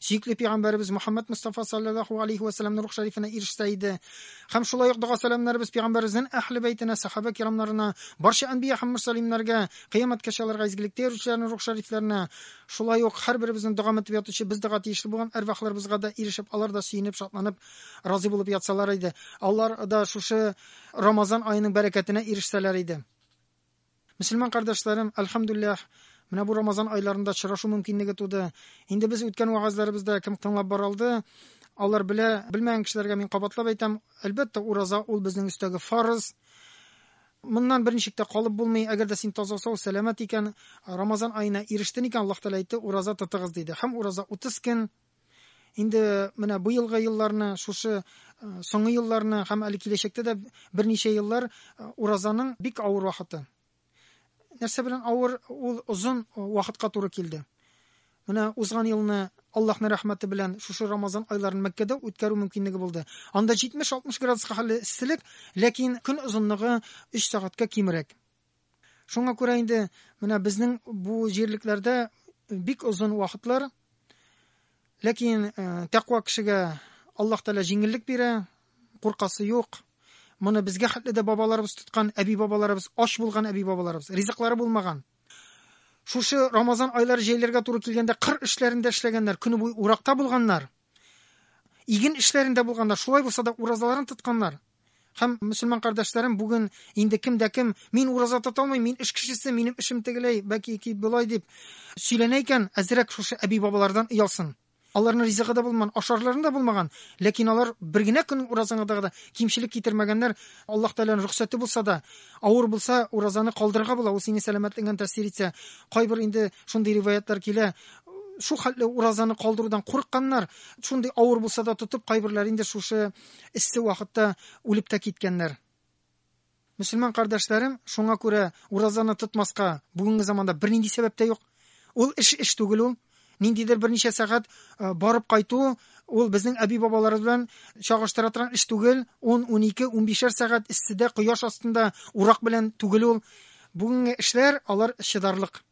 сөекле пәйгамбәребез Мөхәммәд Мустафа саллаллаху алейхи ва салламның рух шәрифенә ирешсә иде. Һәм шулай ук дога сәламнәребез пәйгамбәребезнең әһле бәйтенә, сахаба кирамнарына, барча әнбия һәм мөрсәлимнәргә, кыямәткәчә аларга изгелектә йөрүчеләрнең рух шәрифләренә, шулай ук һәрберебезнең дога мәтеп ятучы без дога тиешле булган әрвахларыбызга да ирешеп, алар да сөенеп, шатланып, разый булып ятсалар иде. Алар да шушы Рамазан аеның бәрәкәтенә ирешсәләр иде. Мөселман кардәшләрем, әлхәмдүлләһ, менә бу Рамазан айларында очрашу мөмкинлеге туды. Инде без үткән вәгазьләребездә кем тыңлап бара алды, алар белә, белмәгән кешеләргә мин кабатлап әйтәм, әлбәттә, ураза ул безнең өстәге фарыз. Моннан бер ничек тә калып булмый, әгәр дә син таза-сау, сәламәт икән, Рамазан аена ирештен икән, Аллаһ Тәгалә әйтте, ураза тотыгыз диде. Һәм ураза 30 көн, Инде менә бу елгы елларны, шушы э, соңгы елларны һәм әле киләчәктә дә берничә еллар э, уразаның бик авыр вакыты. Нәрсә белән авыр? Ул озын э, вакытка туры килде. Менә узган елны Аллаһның рәхмәте белән шушы Рамазан айларын Мәккәдә үткәрү мөмкинлеге булды. Анда 70-60 градуска хәлле эсселек, ләкин көн озынлыгы 3 сәгатькә кимрәк. Шуңа күрә инде менә безнең бу җирлекләрдә бик озын вакытлар Ләкин э, тәкъва кешегә Аллаһ Тәгалә җиңеллек бирә, куркасы юк. Моны безгә хәтле дә бабаларыбыз тоткан, әби бабаларыбыз, ач булган әби бабаларыбыз, ризыклары булмаган. Шушы Рамазан айлары җәйләргә туры килгәндә кыр эшләрендә эшләгәннәр, көне буе уракта булганнар. Иген эшләрендә булганнар, шулай булса да уразаларын тотканнар. Һәм, мөселман кардәшләрем, бүген инде кем дә кем, мин ураза тота алмыйм, мин эш кешесе, минем эшем тегеләй, бәки ки болай дип сөйләнә икән, әзрәк шушы әби-бабалардан оялсын. Аларның ризыгы да булман, ашарларын да булмаган, ләкин алар бер генә көннең уразаңа да кимчелек китермәгәннәр. Аллаһ Тәгаләнең рөхсәте булса да, авыр булса, уразаны калдырырга була, ул сине сәламәтлегеңә тәэсир итсә. Кайбер инде шундый риваятлар килә, шул хәтле уразаны калдырудан курыкканнар, шундый авыр булса да тотып, кайберләр инде шушы эссе вакытта үлеп тә киткәннәр. Мөселман кардәшләрем, шуңа күрә уразаны тотмаска бүгенге заманда бернинди сәбәп тә юк. Ул эш эш түгел ул. Ниндидер берничә сәгать э, барып кайту ул безнең әби бабаларыбыз белән чагыштыра торган эш түгел. 10, 12, 15 сәгать эсседә, кояш астында урак белән түгел ул. Бүгенге эшләр алар чыдарлык.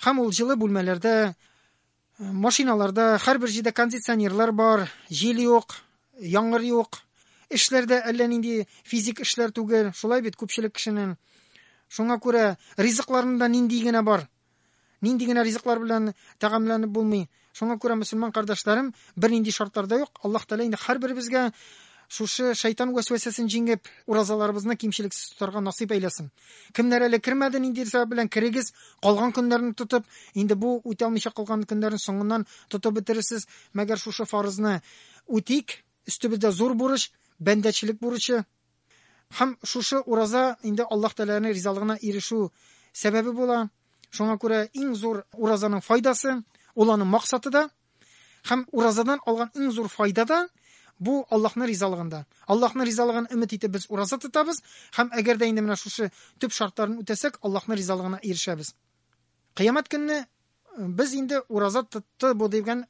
Һәм ул җылы бүлмәләрдә Машиналарда һәрбер җирдә кондиционерлар бар, җил юк, яңгыр юк. Эшләр дә әллә нинди физик эшләр түгел, шулай бит күпчелек кешенең. Шуңа күрә ризыкларында нинди генә бар, нинди генә ризыклар белән тәгамләнеп булмый. Шуңа күрә мөселман кардәшләрем, бернинди шартларда юк, Аллаһ Тәгалә инде һәрберебезгә Шушы шайтан вәсвәсәсен җиңеп, уразаларыбызны кимчелексез тотарга насыйп әйләсен. Кемнәр әле кермәде, нинди сәбәп белән керегез, калган көннәрне тотып, инде бу үтә алмыйча калган көннәрне соңыннан тотып бетерерсез. Мәгәр шушы фарызны үтик, өстебездә зур бурыч, бәндәчелек бурычы. Һәм шушы ураза инде Аллаһ Тәгаләнең ризалыгына ирешү сәбәбе була. Шуңа күрә иң зур уразаның файдасы, ул аның максаты да, Һәм уразадан алган иң зур файда да бу Аллаһның ризалыгында. Аллаһның ризалыгын өмет итеп без ураза тотабыз һәм әгәр дә инде менә шушы төп шартларын үтәсәк, Аллаһның ризалыгына ирешәбез. Кыямәт көнне э, без инде ураза тотты бу дигән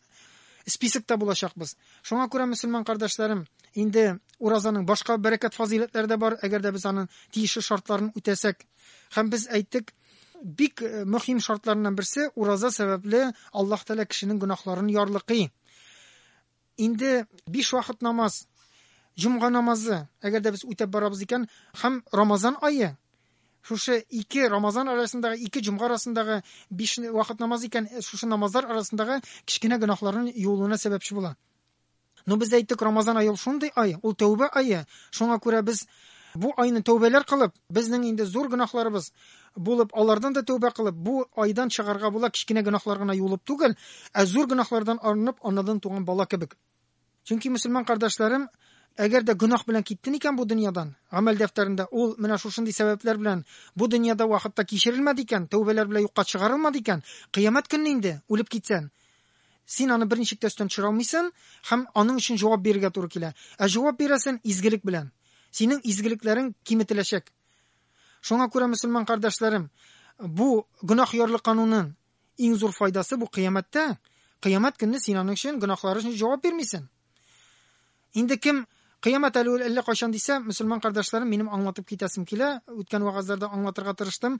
списокта булачакбыз. Шуңа күрә мөселман кардәшләрем, инде уразаның башка бәрәкәт фазыйләтләре дә бар, әгәр дә без аның тиешле шартларын үтәсәк. Һәм без әйттек, бик э, мөһим шартларыннан берсе ураза сәбәпле аллаһ тәала кешенең гөнаһларын ярлыкый инде биш вакыт намаз җомга намазы әгәр дә без үтәп барабыз икән һәм рамазан айы шушы ике рамазан арасындагы ике җомга арасындагы биш вакыт намаз икән э, шушы намазлар арасындагы кечкенә гөнаһларның юылуына сәбәпче була Ну без әйттек, Рамазан ае ул шундый ай, ул тәүбә ае. Шуңа күрә без бу айны тәүбәләр кылып, безнең инде зур гөнаһларыбыз булып, алардан да тәүбә кылып, бу айдан чыгарга була, кечкенә гөнаһлар гына юылып түгел, ә зур гөнаһлардан арынып, анадан туган бала кебек. Чөнки мөселман кардәшләрем, әгәр дә гөнаһ белән киттен икән бу дөньядан, гамәл дәфтәрендә ул менә шушындый сәбәпләр белән бу дөньяда вакытта кичерелмәде икән, тәүбәләр белән юкка чыгарылмады икән, кыямәт көнне инде үлеп китсән, Син аны берничек тә өстән төшерә алмыйсың һәм аның өчен җавап бирергә туры килә. Ә җавап бирәсен изгелек белән. Синең изгелекләрең киметеләчәк. Шуңа күрә, мөселман кардәшләрем, бу гөнаһ ярлы канунын иң зур файдасы бу кыямәттә. Кыямәт көнне син аның өчен гөнаһлары өчен җавап бирмисең. Инде кем Кыямәт әле ул әллә кайчан дисә, мөселман кардәшләрем, минем аңлатып китәсем килә. Үткән вагазларда аңлатырга тырыштым.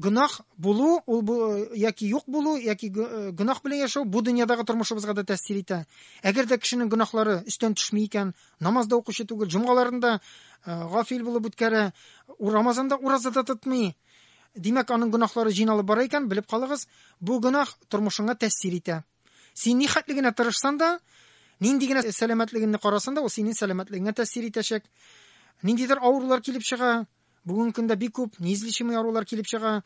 Гөнаһ булу, ул бу, яки юк булу, яки э, гөнаһ белән яшәү бу дөньядагы тормышыбызга да тәэсир итә. Әгәр дә кешенең гөнаһлары өстән төшми икән, намазда укучы түгел, җомгаларында э, гафил булып үткәрә, Рамазанда ураза да тотмый. Димәк, аның гөнаһлары җыйналып бара икән, белеп калыгыз, бу гөнаһ тормышыңа тәэсир итә. Син ни хәтле генә тырышсан да, нинди генә сәламәтлегеңне карасан да, ул синең сәламәтлегеңә тәэсир итәчәк. Ниндидер авырулар килеп чыга, бүгенге көндә бик күп неизлечимый авырулар килеп чыга.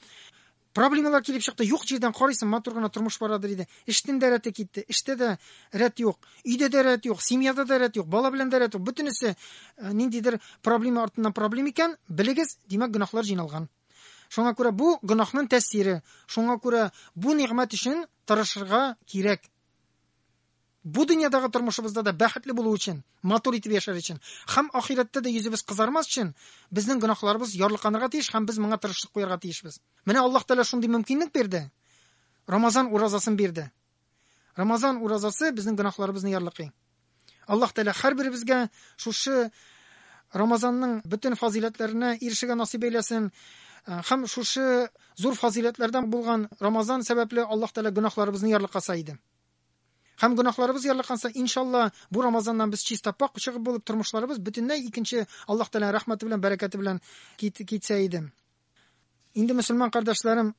Проблемалар килеп чыкты, юк җирдән карыйсың, матур гына тормыш бара диде. Эштен дә рәте китте, эштә дә рәт юк, өйдә дә рәт юк, семьяда да рәт юк, бала белән дә рәт юк. Бөтенесе э, ниндидер проблема артыннан проблема икән, белегез, димәк, гөнаһлар җыйналган. Шуңа күрә бу гөнаһның тәэсире. Шуңа күрә бу нигъмәт өчен тырышырга кирәк. Бу дөньядагы тормышыбызда да бәхетле булу өчен, матур итеп яшәр өчен һәм ахирәттә дә йөзебез кызармас өчен безнең гөнаһларыбыз ярлыканырга тиеш һәм без моңа тырышлык куярга тиешбез. Менә Аллаһ Тәгалә шундый мөмкинлек бирде. Рамазан уразасын бирде. Рамазан уразасы безнең гөнаһларыбызны ярлыкый. Аллаһ Тәгалә һәрберебезгә шушы Рамазанның бөтен фазыйләтләренә ирешергә насыйп әйләсен. Э, һәм шушы зур фазыйләтләрдән булган Рамазан сәбәпле Аллаһ Тәгалә гөнаһларыбызны ярлыкаса иде. Һәм гөнаһларыбыз ярлыканса, иншалла, бу Рамазаннан без чиста пак чыгып булып тормышларыбыз бөтенләй икенче Аллаһ Тәгалә рәхмәте белән, бәрәкәте белән китсә иде. Инде мөселман кардәшләрем,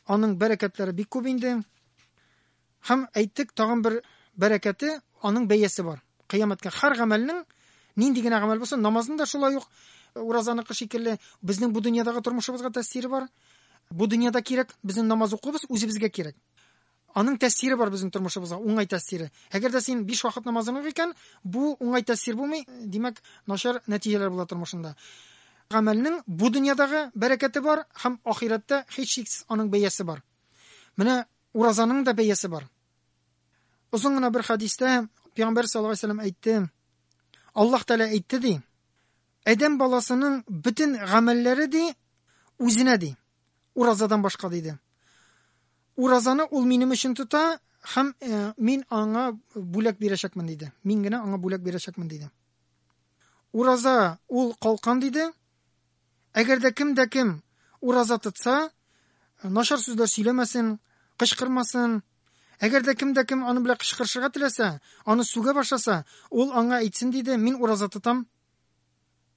аның бәрәкәтләре бик күп инде. Һәм әйттек, тагын бер бәрәкәте, аның бәясе бар. Кыямәткә һәр гамәлнең нинди генә гамәл булса, намазның да шулай ук э, уразаныкы шикелле безнең бу дөньядагы тормышыбызга тәэсире бар. Бу дөньяда кирәк, безнең намаз укуыбыз үзебезгә кирәк. Аның тәэсире бар безнең тормышыбызга, уңай тәэсире. Әгәр дә син биш вакыт намазың юк икән, бу уңай тәэсир булмый, димәк, начар нәтиҗәләр була тормышыңда. Гамәлнең бу дөньядагы бәрәкәте бар һәм ахирәттә һичшиксез аның бәясе бар. Менә уразаның да бәясе бар. Озын гына бер хәдистә Пәйгамбәр саллаллаһу алейһи ва әйтте, Аллаһ Тәгалә әйтте ди, Адәм баласының бөтен гамәлләре ди үзенә ди. Уразадан башка, диде. Уразаны ул минем өчен тота һәм э, мин аңа бүләк бирәчәкмен, диде. Мин генә аңа бүләк бирәчәкмен, диде. Ураза ул калкан, диде. Әгәр дә кем дә кем ураза тотса, нашар сүзләр сөйләмәсен, кычкырмасын, Әгәр дә кем дә кем аны белән кычкырышырга теләсә, аны сүгә башласа, ул аңа әйтсен диде, мин ураза тотам.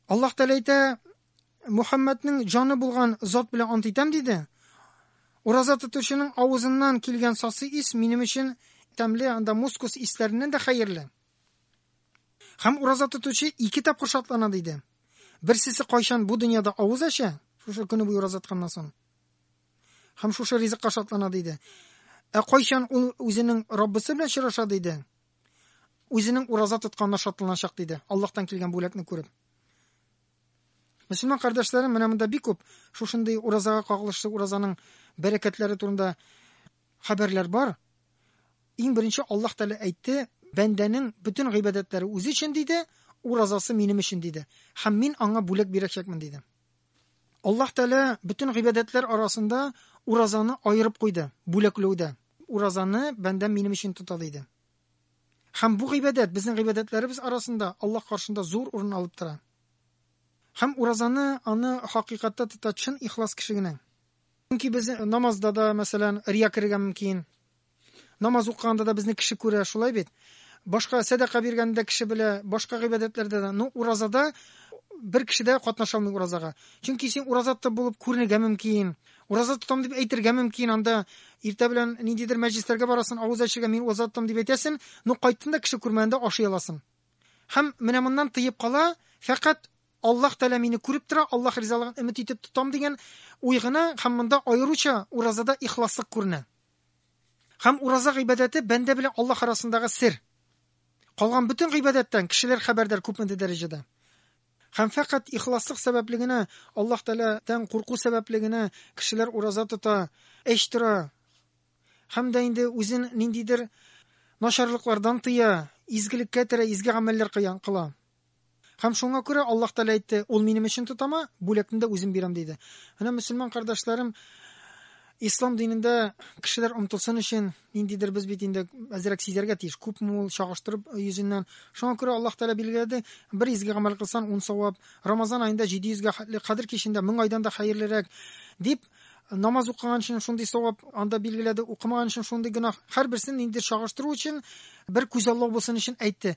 Аллаһ Тәгалә әйтә, Мухаммәднең җаны булган зат белән ант итәм диде. Ураза тотучының авызыннан килгән сасы ис минем өчен тәмле, анда мускус исләреннән дә хәерле. Хәм ураза тотучы ике тапкыр шатлана диде. Берсесе кайчан бу дөньяда авыз ача, шушы көне буе ураза тотканнан соң. Хәм шушы ризыкка шатлана диде. Ә кайчан ул үзенең Раббысы белән очраша диде. Үзенең ураза тотканына шатланачак, диде, Аллаһтан килгән бүләкне күреп. Мөселман кардәшләрем менә монда бик күп шушындый уразага кагылышлы уразаның бәрәкәтләре турында хәбәрләр бар. Иң беренче Аллаһ Тәгалә әйтте, бәндәнең бөтен гыйбадәтләре үзе өчен диде, уразасы минем өчен диде, һәм мин аңа бүләк бирәчәкмен диде. Аллаһ Тәгалә бөтен гыйбадәтләр арасында уразаны аерып куйды, бүләкләүдә. Уразаны бәндәм минем өчен тота диде. Һәм бу гыйбадәт безнең гыйбадәтләребез арасында Аллаһ каршында зур урын алып тора. Һәм уразаны аны хакыйкатта тота чын ихлас кеше генә. Чөнки без намазда да, мәсәлән, рия керергә мөмкин. Намаз укыганда да безне кеше күрә, шулай бит? Башка сәдака биргәндә дә кеше белә, башка гыйбадәтләрдә дә. Ну, уразада бер кеше дә катнаша алмый уразага. Чөнки син ураза тотып булып күренергә мөмкин. Ураза тотам дип әйтергә мөмкин. Анда иртә белән ниндидер мәҗлесләргә барасың, авыз ачырга мин ураза тотам дип әйтәсен, ну кайттын да кеше күрмәгәндә ашый аласың. Һәм менә моннан тыеп кала, фәкать Аллаһ Тәгалә мине күреп тора, Аллаһ ризалыгын өмет итеп тотам дигән уй гына һәм монда аеруча уразада ихласлык күренә. Һәм ураза гыйбадәте бәндә белән Аллаһ арасындагы сер. Калган бөтен гыйбадәттән кешеләр хәбәрдар күпмедер дәрәҗәдә. Һәм фәкать ихласлык сәбәпле генә, Аллаһ Тәгаләдән курку сәбәпле генә кешеләр ураза тота, эч тора һәм дә инде үзен ниндидер начарлыклардан тыя, изгелеккә терә, изге гамәлләр кыла. Һәм шуңа күрә Аллаһ Тәгалә әйтте, Ул минем өчен тотама, бүләкне дә үзем бирәм, диде. Менә, мөселман кардәшләрем, ислам динендә кешеләр омтылсын өчен, ниндидер без бит инде әзрәк сизәргә тиеш, күпме ул чагыштырып йөзеннән. Шуңа күрә Аллаһ Тәгалә билгеләде, бер изге гамәл кылсан, ун савап, Рамазан аенда 700 гә хәтле, Кадер кичендә мең айдан да хәерлерәк, дип, намаз укыган өчен шундый савап анда билгеләде, укымаган өчен шундый гөнаһ. Һәрберсен ниндидер чагыштыру өчен, бер күзаллау булсын өчен әйтте.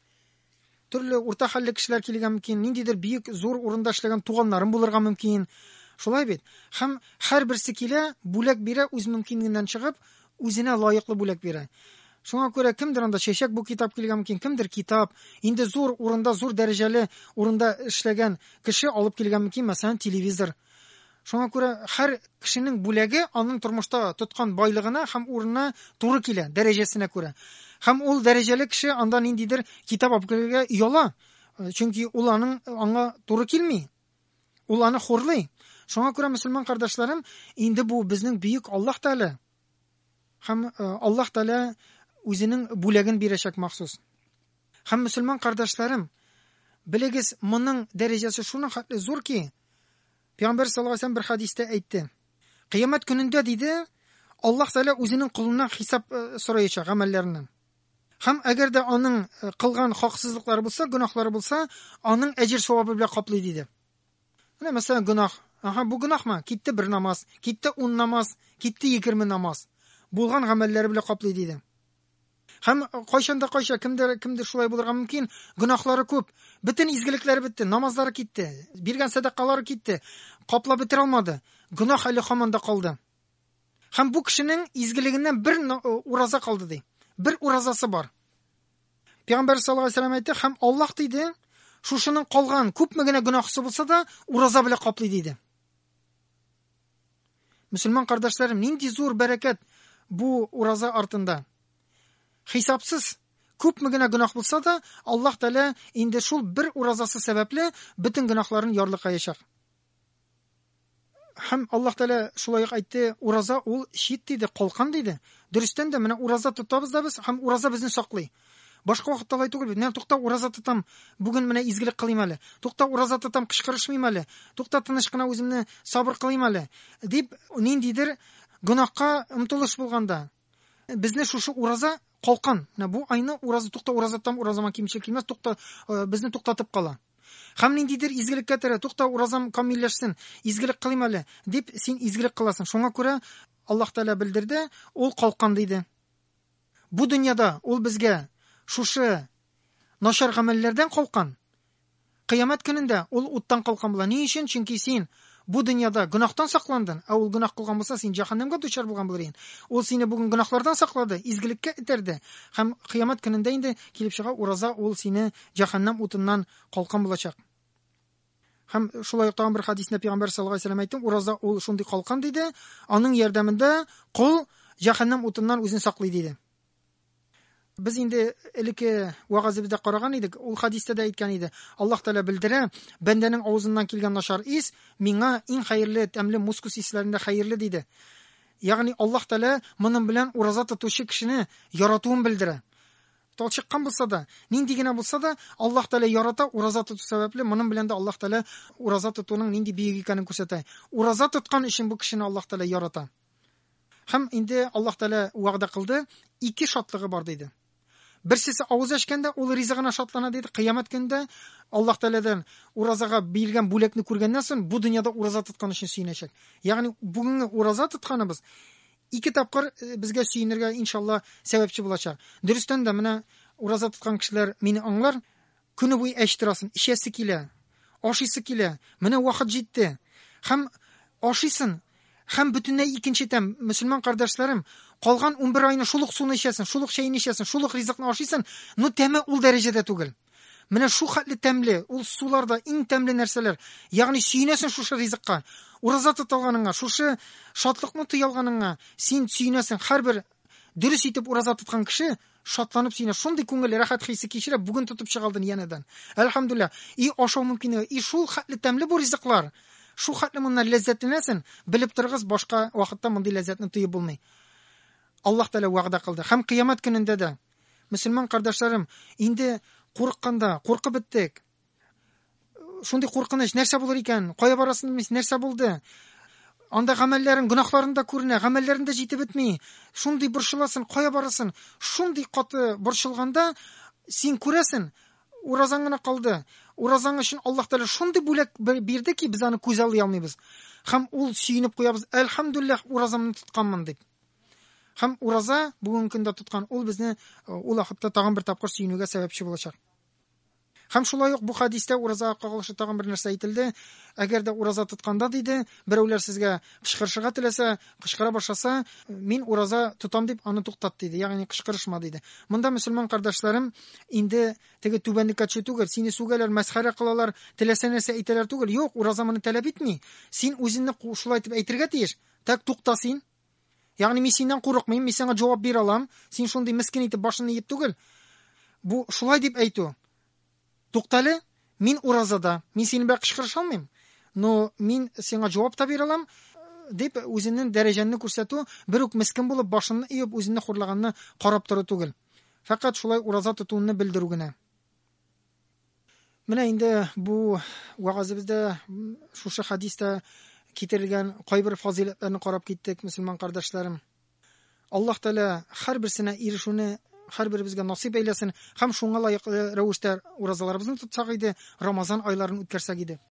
Төрле урта хәлле кешеләр килергә мөмкин, ниндидер бик зур урында эшләгән туганнарым булырга мөмкин. Шулай бит? Һәм һәрберсе килә, бүләк бирә, үз мөмкинлегеннән чыгып, үзенә лаеклы бүләк бирә. Шуңа күрә кемдер анда чәчәк бу китап килгән мөмкин, кемдер китап, инде зур урында, зур дәрәҗәле урында эшләгән кеше алып килгән мөмкин, мәсәлән, телевизор. Шуңа күрә һәр кешенең бүләге аның тормышта тоткан байлыгына һәм урынына туры килә, дәрәҗәсенә күрә. Һәм ул дәрәҗәле кеше анда ниндидер китап алып керергә ояла, э, чөнки ул аның э, аңа туры килми. Ул аны хурлый. Шуңа күрә, мөселман кардәшләрем, инде бу безнең бөек Аллаһ Тәгалә. Һәм э, Аллаһ Тәгалә үзенең бүләген бирәчәк махсус. Һәм мөселман кардәшләрем, белегез, моның дәрәҗәсе шуның хәтле зур ки, Пәйгамбәр саллаллаһу алейһи бер хәдистә әйтте. Кыямәт көнендә диде, Аллаһ Тәгалә үзенең кулыннан хисап э, сораячак гамәлләренең. Һәм әгәр дә аның э, кылган хаксызлыклары булса, гөнаһлары булса, аның әҗер савабы белән каплый диде. Менә мәсәлән гөнаһ. Аха, бу гөнаһмы? Китте бер намаз, китте ун намаз, китте егерме намаз. Булган гамәлләре белән каплый диде. Һәм кайчан да кайча кемдер кемдер шулай булырга мөмкин, гөнаһлары күп. Бөтен изгелекләре бетте, намазлары китте, биргән сәдакалары китте, каплап бетерә алмады. Гөнаһ әле хаман да калды. Һәм бу кешенең изгелегеннән бер ураза калды ди. Бер уразасы бар. Пәйгамбәр саллаллаһу алейһи ва әйтте, һәм Аллаһ диде, шушының калган күпме генә гөнаһысы булса да, ураза белән каплый диде. Мөселман кардәшләрем, нинди зур бәрәкәт бу ураза артында. Хисапсыз күпме генә гөнаһ булса да, Аллаһ Тәгалә инде шул бер уразасы сәбәпле бөтен гөнаһларын ярлыкаячак. Һәм Аллаһ Тәгалә шулай ук әйтте, ураза ул щит диде, калкан диде. Дөрестән дә менә ураза тотабыз да без һәм ураза безне саклый. Башка вакытта алай түгел бит. Менә тукта ураза тотам. Бүген менә изгелек кылыйм әле. Тукта ураза тотам, кычкырышмыйм әле. Тукта тыныч кына үземне сабыр кылыйм әле. Дип ниндидер гөнаһка омтылыш булганда безне шушы ураза калкан. Менә бу айны ураза тукта ураза тотам, уразама кимчел килмәс, тукта э, безне туктатып кала. Хәм ниндидер изгелеккә тәрә, тукта уразам камилләшсен, изгелек кылыйм әле, дип син изгелек кыласың. Шуңа күрә Аллаһ Тәгалә белдерде, ул калкан диде. Бу дөньяда ул безгә шушы начар гамәлләрдән калкан. Кыямәт көнендә ул уттан калкан була. Ни өчен? Чөнки син бу дөньяда гөнаһтан сакландың, ә ул гөнаһ кылган булса, син җәһәннәмгә дучар булган булыр идең. Ул сине бүген гөнаһлардан саклады, изгелеккә этәрде. Һәм кыямәт көнендә инде килеп чыга, ураза ул сине җәһәннәм утыннан калкан булачак. Һәм шулай ук тагын бер хәдиснә пәйгамбәр саллаллаһу галәйһи ва сәлләм әйтте, ураза ул шундый калкан диде, аның ярдәмендә кол җәһәннәм утыннан үзен саклый диде. Без инде элекке вәгазебездә караган идек, ул хәдистә дә әйткән иде. Аллаһ Тәгалә белдерә, бәндәнең авызыннан килгән начар ис миңа иң хәерле, тәмле мускус исләрендә хәерле диде. Ягъни Аллаһ Тәгалә моның белән ураза тотучы кешене яратуын белдерә. Талчыккан булса да, нинди генә булса да, Аллаһ Тәгалә ярата, ураза тоту сәбәпле, моның белән дә Аллаһ Тәгалә ураза тотуның нинди бөек икәнен күрсәтә. Ураза тоткан өчен бу кешене Аллаһ Тәгалә ярата. Һәм инде Аллаһ Тәгалә вәгъдә кылды, ике шатлыгы бар диде. Берсесе авыз ачканда ул ризыгына шатлана диде, кыямәт көнендә Аллаһ Тәгаләдән уразага бирелгән бүләкне күргәннән соң бу дөньяда ураза тоткан өчен сөенәчәк. Ягъни бүгенге ураза тотканыбыз Ике тапкыр э, безгә сөенергә иншалла сәбәпче булачак. Дөрестән дә менә ураза тоткан кешеләр мине аңлар. Көне буе әч торасын, эчәсе килә, ашыйсы килә. Менә вакыт җитте. Хәм ашыйсын, хәм бөтенләй икенче тәм. Мөселман кардәшләрем, калган 11 айны шул ук суны эчәсен, шул ук чәйне эчәсен, шул ук ризыкны ашыйсын, но тәме ул дәрәҗәдә түгел. Менә шу хәтле тәмле, ул сулар да иң тәмле нәрсәләр. Ягъни сөенәсең шушы ризыкка. Ураза тоталганыңа, шушы шатлыкны тоялганыңа син сөенәсең. Һәрбер дөрес итеп ураза тоткан кеше шатланып сөенә. Шундый күңел рәхәт хисе кичерә, бүген тотып чыгалдын янәдән. Әлхәмдулилла. И ашау мөмкинлеге, и шул хәтле тәмле бу ризыклар. Шу хәтле моннан ләззәтләнәсен, белеп торыгыз, башка вакытта мондый ләззәтне тоеп булмый. Аллаһ Тәгалә вәгъдә кылды. Һәм кыямәт көнендә дә Мөселман кардәшләрем, инде курыкканда, куркып беттек. Шундый куркыныч, нәрсә булыр икән? Кая барасын белмисең, нәрсә булды? Анда гамәлләрең, гөнаһларың да күренә, гамәлләрең дә җитеп бетми. Шундый борчыласың, кая барасын? Шундый каты борчылганда син күрәсең, уразаң гына калды. Уразаң өчен Аллаһ Тәгалә шундый бүләк бирде ки, без аны күз алмыйбыз. Һәм ул сөенеп куябыз, "Әлхәмдулиллах, уразамны тотканмын" дип. Һәм ураза бүгенге көндә тоткан ул безне э, ул вакытта тагын бер тапкыр сөенүгә сәбәпче булачак. Һәм шулай ук бу хадистә уразага кагылышлы тагын бер нәрсә әйтелде. Әгәр дә ураза тотканда диде, берәүләр сезгә кычкырышырга теләсә, кычкыра башласа, мин ураза тотам дип аны туктат диде. Ягъни кычкырышма диде. Монда мөселман кардәшләрем инде теге түбәнлеккә төшү түгел, сине сүгәләр, мәсхәрә кылалар, теләсә нәрсә әйтәләр түгел. Юк, ураза моны таләп итми. Син үзеңне шулай итеп әйтергә тиеш. Так тукта син, Ягъни мин синнән курыкмыйм, мин сиңа җавап бирә алам, син шундый мескин итеп башыңны иеп түгел. Бу шулай дип әйтү. Туктале, мин уразада, мин синең белән кычкырыша алмыйм, но мин сиңа җавап та бирә алам, дип үзенең дәрәҗәнне күрсәтү, бер үк мескен булып башынны иеп үзенне хурлаганны карап тору түгел. Фәкать шулай ураза тотуынны белдерү генә. Менә инде бу вәгазебездә шушы хадистә китерелгән кайбер фазыйләтләрне карап киттек, мөселман кардәшләрем. Аллаһ Тәгалә һәр берсенә ирешүне һәр беребезгә насыйп әйләсен һәм шуңа лаеклы рәвештә уразаларыбызны тотсак иде, Рамазан айларын үткәрсәк иде.